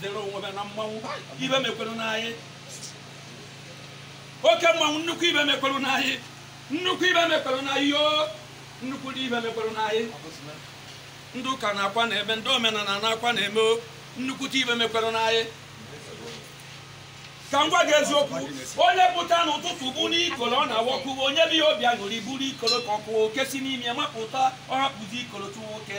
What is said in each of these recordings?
dere onwe ha na mmanwụ ibe mekwere n'anyị oke mmanwụ nnukwu ibe mekwere n'anyị nnukwu ibe mekwere n'anyị yoo nnukwu ibe mekwere n'anyị ndị ụka na-akwa na-eme ndị omenala na-akwa na-eme o, nnukwute ibe mekwere n'anyị ka m gwa gị eziokwu onye pụta n'ụtụtụ buru ikoro ọ na-awọkụ onye bụ ya obi aṅụrị buru ikoro ka ọ kụwa oke si n'ime ya mapụta ọ hapụzi ikoro chụwa oke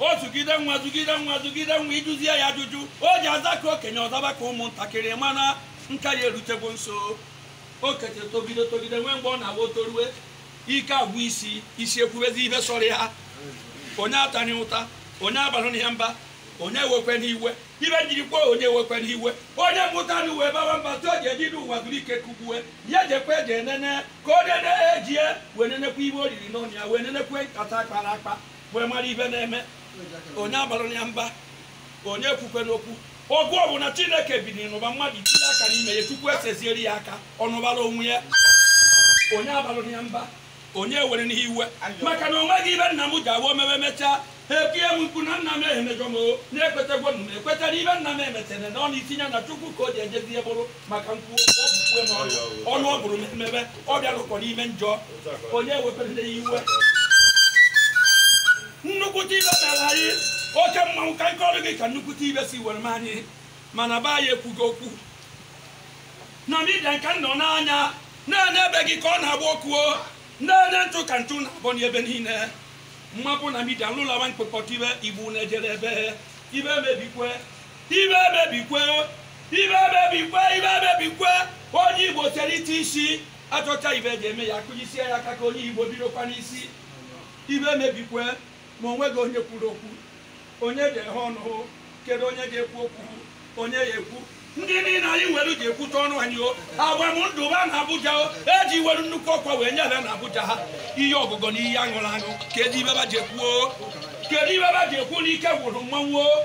ọ zụgide nwa zụgide nwa zụgide nwa ị jụzie ya ajụjụ o ji aza ka okenye ọ zaba ka ụmụntakịrị mana nka ya erutego nso okenye togide togide nwee mgbe ọ na-awụ o torue ike agwụ isi isi ekwubezi ibe sọrọ ya onye atani ụta onye abalụna mba onye ewekwena iwe ibe m jiri kwuo onye ewekwena iwe onye mụta na uwe bawa mba tụọ ji eji n'ụwa zuru ike kugbue ya jekwe ji enene ka o nene ejie wee nenekwa ibe o riri n'ọnụ ya wee nenekwa nkata kpara akpa wee mara ibe na-eme onye abalụna mba onye ekwukwena okwu ọgụ ọbụna chineke bidiri n'ụba mmadụ tinye aka n'ime ya chukwu esezieri ya aka ọ nụbara onwe ya onye abalụna mba onye ewerena iwe maka na o nweghị ibe nna m ji awụ o meme mechaa ha etie m mkpu na nna m emejọ m o na ekwetegwo m ekweta na ibe nna m emechere na ọ na itinye na chukwu ka o ji ejezie bụrụ maka nkwu ọbụkwue m ọnụ ọ bụrụ mmebe ọ bịarụkwa n'ime njọ onye ewekwena iwe nnukwute ibe mere anyị oke mmanwụ ka m kọọrọ gị ka nnukwute ibe si were mee anyị mana be anyị ekwugo okwu na midia nke nọ n'anya na-ene ebe gị ka ọ na-agba ọkụ ọ na-ene ntụ ka ntụ na-abọ n'ebe niile mmapụ na midia nlụlawa mkpekọta ibe igbo na-ejere ebe ibe emebikwe ibe emebikwe ibe emebikwe ibe emebikwe onye igbo sere ite isi a chọcha ibe eji eme ya akụjisie ya aka ka onye igbo bidokwa n'isi ibe emebikwe ma o nweghị onye kwuru okwu onye ga-eghe ọnụ hụ kedu onye ga-ekwu okwu onye ya ekwu ndị niile anyị nwere ji ekwute ọnụ anyị o agbam ndụ ba na abuja o eji were nnukwu ọkwa wee nye ha na abuja ha ihe ọgụgụ na ihe aṅụrụ aṅụ kedu ibe ba ji ekwuo kedu ibe ba ji ekwu na ike gwụrụ mmanwụ o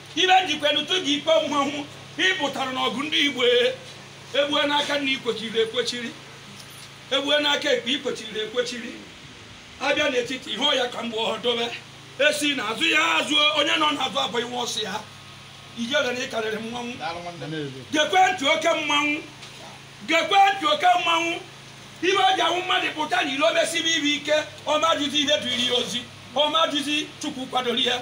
ibe m jikwenu tụ gị ikpe mmanwụ ị pụtara n'ọgụ ndị igbo egbue n'aka nri i kwechiri ekwechiri egbue n'aka ekpe i kwechiri ekwechiri abịa n'etiti ihe ọya ka mgbe ọ dobe esi n'azụ ya azụ onye nọ n'azụ abụ iwe ọ sị ya i chere na ị karịrị mmanwụ gekwe ntị oke mmanwụ gekwe ntị oke mmanwụ ibe o ji awụ mmadụ pụta n'ilo mesibe ibe ike ọ ma jụzi ibe duru ya ozi ọ ma jụzi chukwu kwadoro ya